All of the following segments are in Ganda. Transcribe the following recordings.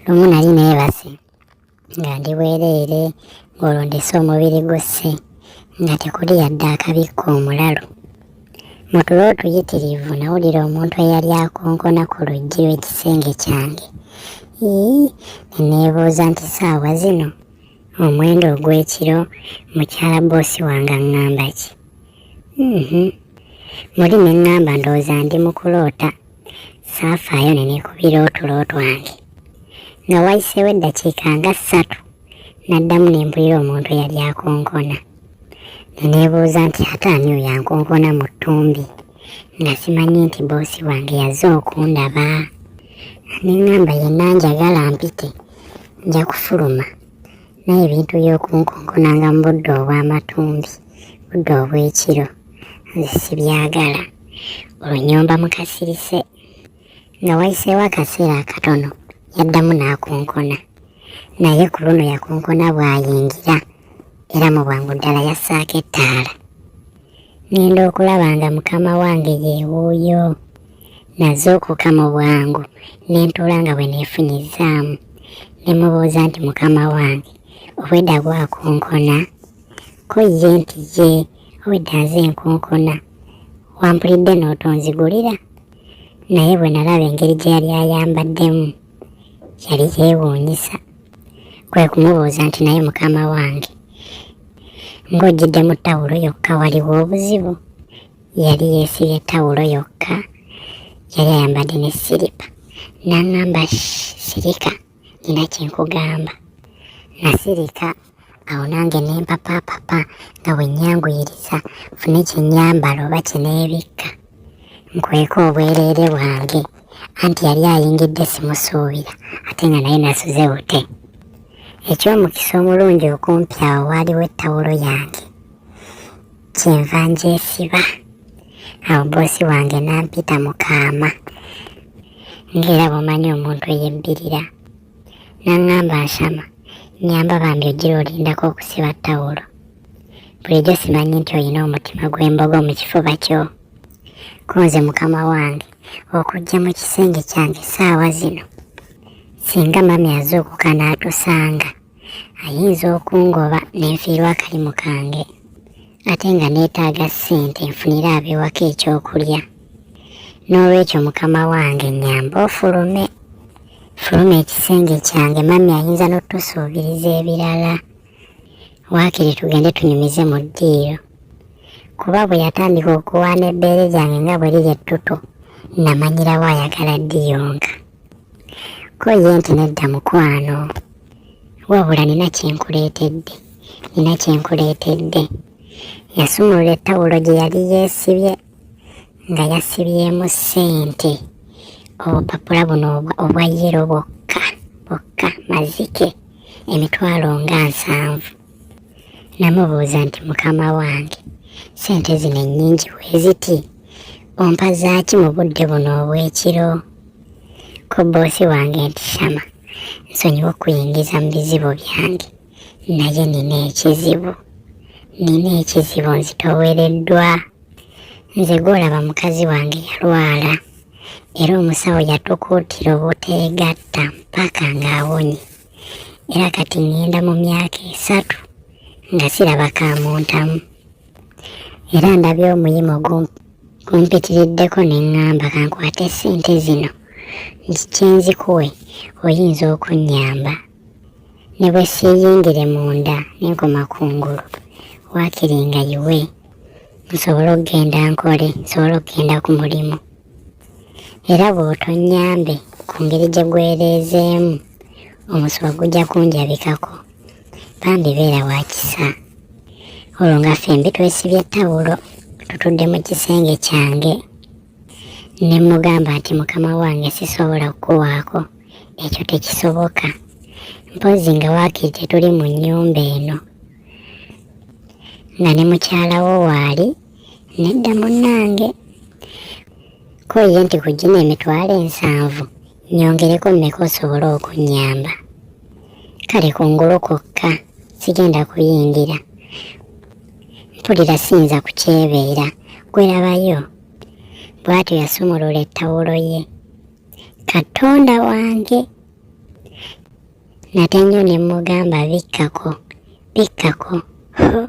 lumu nali neebase nga ndi bwereere ng'olwo ndese omubiri gusse nga tekuli yadde akabikka omulalu mu tulo otuyitirivu nawulira omuntu eyali akonkona ku luggi lw'ekisenge kyange ii neneebuuza nti saawa zino omwenda ogw'ekiro mukyala boosi wange aŋŋamba ki mhm. muli ne ŋŋamba ndowooza ndi mu kuloota saafaayo ne neekubira otulo twange nga wayiseewo eddakiika nga ssatu n'addamu ne mpulira omuntu eyali akonkona ne neebuuza nti ate ani oyo ankonkona mu ttumbi nga simanyi nti boosi wange yaze okundaba ne ŋŋamba yenna njagala mpite nja kufuluma naye ebintu by'okunkonkonanga mu budde obw'amatumbi budde obw'ekiro nze sibyagala olwo nyomba mukasirise nga wayiseewo akaseera akatono yaddamu n'akonkona naye ku luno yakonkona bw'ayingira era mu bwangu ddala yassaako ettaala ngenda okulaba nga mukama wange yewuuyo nazuukuka mu bwangu ne ntuula nga bwe neefunyizzaamu ne mubuuza nti mukama wange obwedda gwakunkona ko ye nti ye obwedda nze nkunkona wampulidde n'otonzigulira naye bwe nalaba engeri gye yali ayambaddemu yali yeewuunyisa kwe kumubuuza nti naye mukama wange ng'ojjidde mu tawulo yokka waliwo obuzibu yali yeesibye tawulo yokka yali ayambadde ne siripa n'aŋŋamba sirika nina kye nkugamba nasirika awo nange ne mpapapapa nga bwe nyanguyiriza fune kye nyambala oba kye neebikka nkweka obwereere bwange anti yali ayingidde simusuubira ate nga naye nasuze bute eky'omukisa omulungi okumpi awo waaliwo ettawulo yange kyenva ngyesiba awo boosi wange n'ampita mu kaama ng'era bw'omanyi omuntu eyebbirira N'aŋŋamba Nshama, nnyamba bambi ojjira olindako okusiba ttawulo. Bulijjo simanyi nti olina omutima gw'embogo mu kifuba kyo. Ko nze mukama wange okujja mu kisenge kyange saawa zino. Singa mami azuukuka n'atusanga, ayinza okungoba ne nfiirwa akalimu kange ate nga neetaaga ssente nfunire abewaka ekyokulya. n'olwekyo mukama wange nyamba ofulume fuluma ekisenge kyange mami ayinza n'otusuubiriza ebirala waakiri tugende tunyumize mu ddiiro kuba bwe yatandika okuwaana ebbeere lyange nga bwe liri ettutu namanyirawo ayagala ddiyonka ko ye nti nedda mukwano wabula nina kyenkuleetedde nina kyenkuleetedde yasumulula ettawulo gye yali yeesibye nga yasibyemu ssente obupapula buno obwa yero bwokka bwokka mazike emitwalo nga nsanvu namubuuza nti mukama wange ssente zino ennyingi weziti ompa zaaki mu budde buno obw'ekiro ko boosi wange nti shama nsonyiwa okuyingiza mu bizibu byange naye nina ekizibu nina ekizibu nzitowereddwa nze gwolaba mukazi wange yalwala era omusawo yatukuutira obuteegatta mpaka ng'awonye era kati ŋŋenda mu myaka esatu nga siraba kamuntamu era ndabye omuyimo gumpitiriddeko ne ŋŋamba kankwate ssente zino nzikye nzikuwe oyinza okunnyamba ne bwe siiyingire munda ne nkoma ku ngulu waakiri nga yiwe nsobole okugenda nkole nsobole okugenda ku mulimu era bw'otonnyambe ku ngeri gye gwereezeemu omusuwa gujja kunjabikako bambi beera wa kisa olwo nga ffembi twesibye ttawulo tutudde mu kisenge kyange ne mmugamba nti mukama wange sisobola kukuwaako ekyo tekisoboka mpozzi nga waakiri tetuli mu nnyumba eno nga ne mukyala wo waali nedda munnange ko ye nti ku gino emitwalo ensanvu nyongereko mmeka osobole okunnyamba kale kungulu kwokka sigenda kuyingira mpulira siyinza kukyebeera gwerabayo bw'atyo yasumulula ettawulo ye katonda wange nate nnyo ne mmugamba bikkako bikkako ho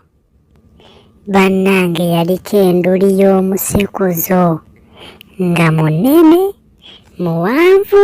bannange yaliko enduli y'omusekuzo nga munene muwanvu